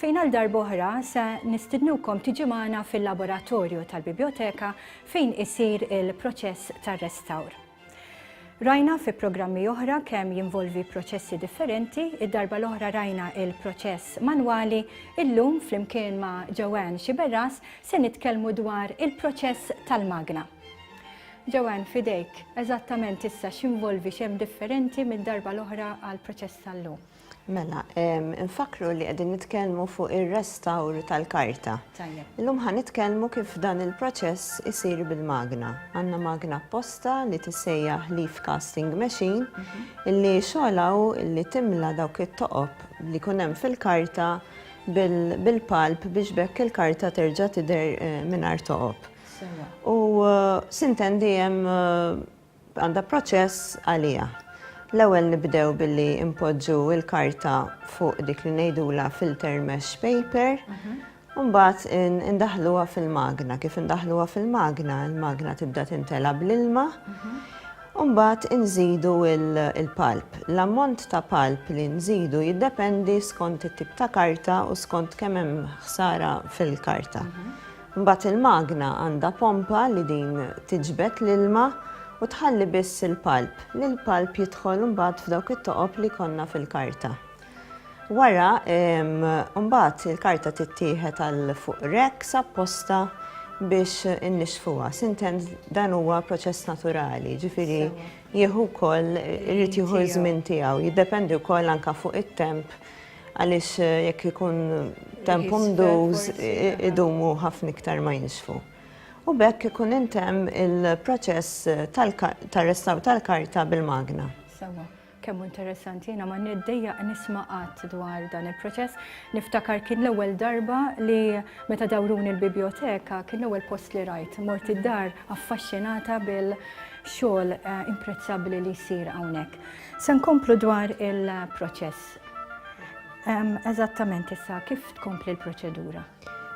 fejn għal darb'oħra se nistidnukom tiġi magħna fil-laboratorju tal-Bibjoteka fejn isir il-proċess tar-restawr. Rajna fi programmi oħra kemm jinvolvi proċessi differenti, id-darba l-oħra rajna il-proċess manwali, illum flimkien ma' Joanne Xiberras se nitkellmu dwar il-proċess tal-magna. Joanne, fidejk, eżattament issa x'involvi x'hemm differenti mid-darba l-oħra għall-proċess tal-lum? Mela, nfakru li qegħdin nitkellmu fuq ir-restawr tal-karta. Illum ħa nitkellmu kif dan il-proċess isir bil-magna. Għandna magna apposta li tissejjaħ leaf casting machine mhm. illi xogħlaw illi timla dawk it-toqob li kun hemm fil-karta bil-palp biex bekk il-karta terġa' tidher eh, mingħajr toqob. U eh, sintendi hemm eh, Għandha proċess għaliha. L-ewwel nibdew billi npoġġu l-karta fuq dik li ngħidulha filter mesh paper, u mbagħad indaħħluha fil-magna. Kif indaħħluha fil-magna, il-magna tibda timtela bl-ilma, u mbagħad inżidu l-pulp. L-ammont ta' pulp li nżidu jiddependi skont it-tip ta' karta u skont kemm hemm ħsara fil-karta. Mbagħad il-magna għandha pompa li din tiġbed l-ilma u tħalli biss il-palp, li l-palp jidħol mbagħad f'dawk it-toqob li jkollna fil-karta. Wara mbagħad il-karta tittieħed għal fuq racks apposta biex innixfuha. Sintent dan huwa proċess naturali, ġifieri jieħu wkoll irid jieħu ż-żmien tiegħu, jiddependi wkoll anke fuq it-temp Għaliex jekk ikun temp umduż idumu ħafna iktar ma jinxfu. U b'hekk ikun intemm il-proċess tar-restawr tal-karta bil-magna. Sewwa. Kemm hu interessanti, jiena ma niddejjaq nisma' qatt dwar dan il-proċess. Niftakar kien l-ewwel darba li meta dawruni l-bibjoteka kien l-ewwel post li rajt. Mort id-dar affaxxinata bil-xogħol imprezzabbli li jsir hawnhekk. Se nkomplu dwar il-proċess. Eżattament issa, kif tkompli l-proċedura?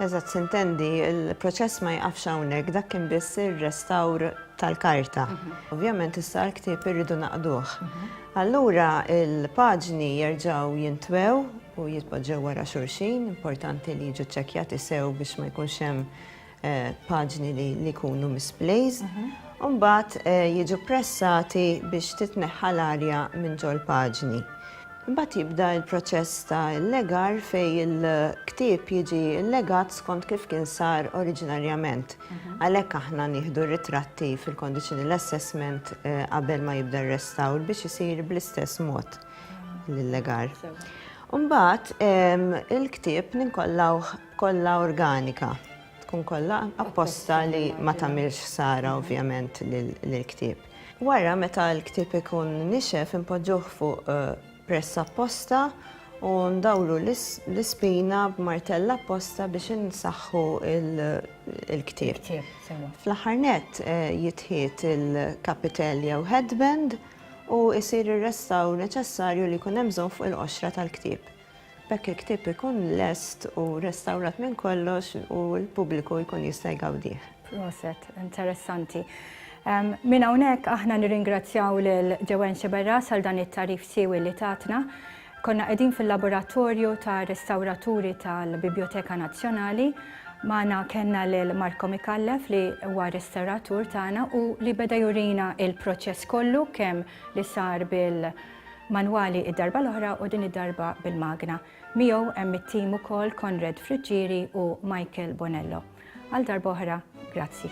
Eżatt, sintendi, il-proċess ma jqafx hawnhekk, dak kien biss ir-restawr tal-karta. Mhm. Ovvjament issa l-ktieb irridu naqduh. Mhm. Allura il-paġni jerġgħu jintwew u jitpoġġew wara xulxin, importanti li jiġu ċċekkjati sew biex ma jkunx hemm eh, paġni li jkunu misplaced, mhm. u mbagħad eh, jiġu pressati biex titneħħa l-arja minn ġol paġni. Mbagħad jibda l-proċess ta' legar fej il-ktieb jiġi legat skont kif kien sar oriġinarjament. Mhm. Għalhekk aħna nieħdu ritratti fil-conditional assessment eh, qabel ma jibda r-restawr biex isir bl-istess mod mhm. l-legar. Umbat, il-ktib ninkollawh kollha organika, tkun kollha apposta li ma tagħmilx ħsara ovvjament lill-ktieb. Wara meta l-ktieb ikun nixef inpoġġuh fuq press apposta u ndawru l-ispina b'martell apposta biex insaħħu l-ktieb. Fl-aħħar nett jitħit il-kapitel jew headband u jsir ir-restawr neċessarju li jkun hemm bżonn fuq il-qoxra tal-ktieb. B'hekk il-ktieb ikun lest u restawrat minn kollox u l-pubbliku jkun jista' jgawdih. Proset, interessanti. Minn hawnhekk aħna nirringrazzjaw lil Joanne Sciberras għal dan it-tagħrif siewi li tatna. Konna qegħdin fil-laboratorju ta' restawraturi tal-Bibjoteka Nazzjonali. Magħna kellna lil Marco Micallef li huwa restawratur tagħna u li beda jurina l-proċess kollu kemm li sar bil manwali id-darba l-oħra u din id-darba bil-magna. Miegħu hemm it-tim ukoll Konrad Friggieri u Michael Bonello. Għal darba oħra, grazzi.